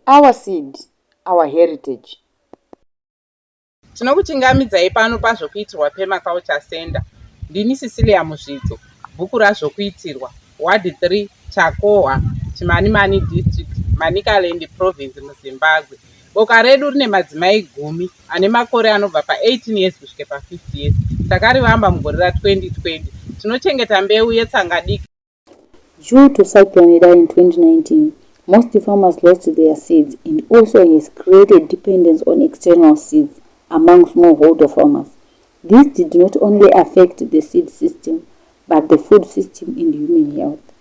Our seed, our heritage. Tinokuchingamidzai pano pazvokuitirwa Permaculture Center. Ndini Cecilia Muzvidzo, bhuku razvokuitirwa, Ward 3, Chakohwa, Chimanimani District, Manicaland Province, muZimbabwe. Boka redu rine madzimai gumi ane makore anobva pa18 years kusvika pa50 years. Takarivamba mugore ra 2020. Tinochengeta mbeu yetsanga diki. Due to cyclone Idai in 2019, most farmers lost their seeds and also has created dependence on external seeds among smallholder farmers. This did not only affect the seed system but the food system and human health.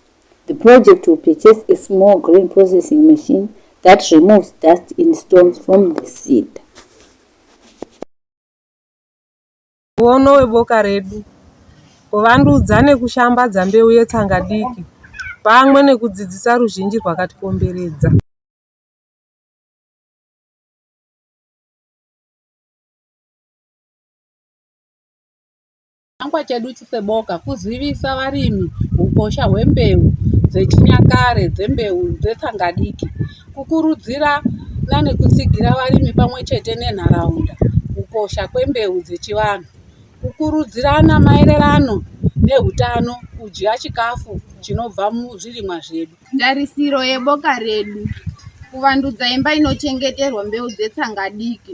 The project will purchase a small grain processing machine that removes dust and stones from the seed. Muono weboka redu kuvandudza nekushambadza mbeu yetsanga diki pamwe nekudzidzisa ruzhinji rwakatikomberedza. Chinangwa chedu seboka kuzivisa varimi hukosha hwembeu dzechinyakare dzembeu dzetsangadiki, kukurudzirana nekutsigira varimi pamwe chete nenharaunda kukosha kwembeu dzechivanhu, kukurudzirana maererano nehutano, kudya chikafu chinobva muzvirimwa zvedu. Tarisiro yeboka redu kuvandudza imba inochengeterwa mbeu dzetsangadiki